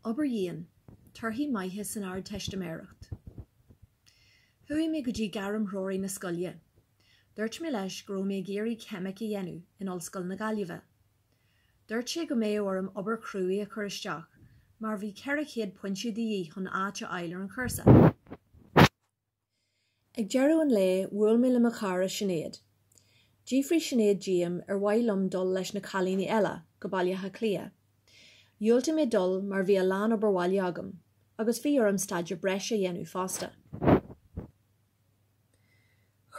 Obair dhian. Torthaí maithe san Ardteistiméireacht. Chuaigh mé go dtí gairmthreoraí na scoile. Dúirt mé leis go raibh mé ag iarraidh ceimic a dhéanamh in Ollscoil na Gaillimhe. Dúirt sé go mbeadh orm obair chruaidh a chur isteach mar bhí 400 pointe de dhíth chun áit a fháil ar an chúrsa. Ag deireadh an lae, bhuail mé le mo chara Sinéad. D'fhiafraigh Sinéad díom ar mhaith liom dul leis na cailíní eile go Baile Átha Cliath. Dhiúltaigh mé dul mar bhí a lán obair bhaile agam, agus bhí orm staidéar breise a dhéanamh fosta.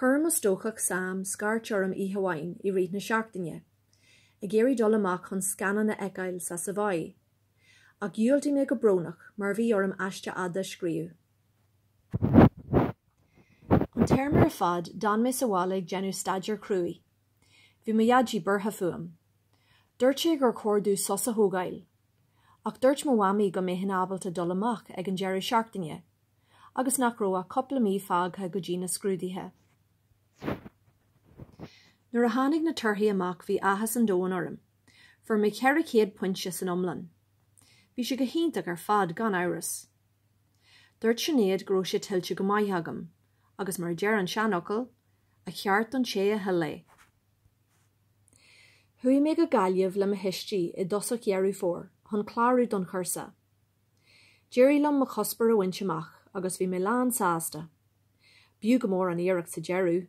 Chuir mo stócach Sam scairt orm oíche amháin i rith na seachtaine, ag iarraidh dul amach chun scannán a fheiceáil sa Savoy. Ach dhiúltaigh mé go brónach mar bhí orm aiste fhada a scríobh. An téarma ar fad, d'fhan mé sa bhaile ag déanamh staidéir cruaidh. Bhí mo dhaidí buartha fúm. Dúirt sé gur chóir domh sos a thógáil. Ach dúirt mo mhamaí go mbeinn ábalta dul amach ag an deireadh seachtaine, agus nach raibh ach cúpla mí fágtha go dtí na scrúduithe. Nuair a tháinig na torthaí amach bhí áthas an domhain orm. Fuair mé ceithre chéad pointe san iomlán. Bhí sé go hiontach ar fad, gan amhras. Dúirt Sinéad go raibh sé tuillte go maith agam, agus mar a deir an seanfhocal, A cheart don té a thuill é. Chuaigh mé go Gaillimh le mo thuistí i dtosach Dheireadh Fómhair chun clárú don chúrsa. D'éirigh liom mo chuspóir a bhaint amach agus bhí mé lán sásta. B'fhiú go mór an iarracht sa deireadh!